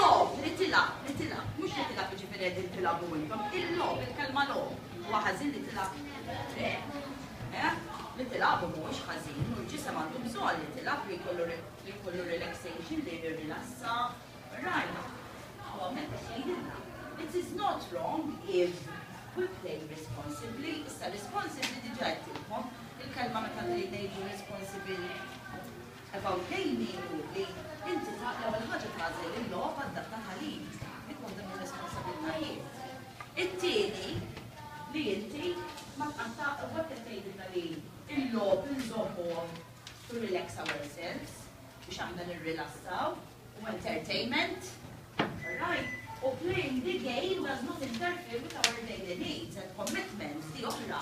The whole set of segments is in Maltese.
Logħob, li tilgħab, li tilgħab, mhux li tilgħab jiġifieri qegħdin tilgħabu intom, il-logħob, il-kelma logħob, huwa ħażin li tilgħab? Le. Eh? Li tilgħabu mhuwiex ħażin u l-ġisem għandu bżonn li tilgħab li jkollu li jkollu relaxation li jirrilassa. Rajna. U hawnhekk qed jgħidilna. It is not wrong if we play responsibly. Issa responsibly diġà jtilkom il-kelma meta ngħidu responsibility. About gaming hu li inti l-ewwel ħaġa tagħżel il-logħob adattat għalik, dik waħda mir-responsabbiltajiet. It-tieni li inti ma tqatta' u hekk qed ngħidilna li l-logħob inżommuh to relax ourselves, biex aħna nirrilassaw, u entertainment, all right, u playing the game does not interfere with our daily needs and commitments, di oħra.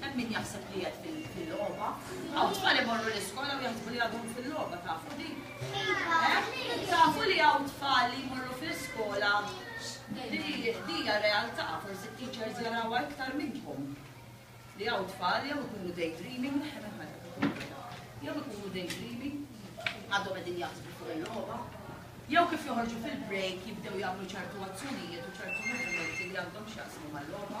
Hemm min jaħseb li qiegħed fil-logħba. Hawn tfal imorru l-iskola u jaħsbu li għadhom fil-logħba, tafu din? Eh? Tafu li hawn tfal li jmorru fl-iskola li hija realtà, forsi t-teachers jarawha iktar minnkom. Li hawn tfal jew ikunu daydreaming, jew ikunu daydreaming, għadhom qegħdin jaħsbu fuq il-logħba. Jew kif joħorġu fil-break jibdew jagħmlu ċertu azzjonijiet u ċertu movimenti li għandhom x'jaqsmu mal-logħba.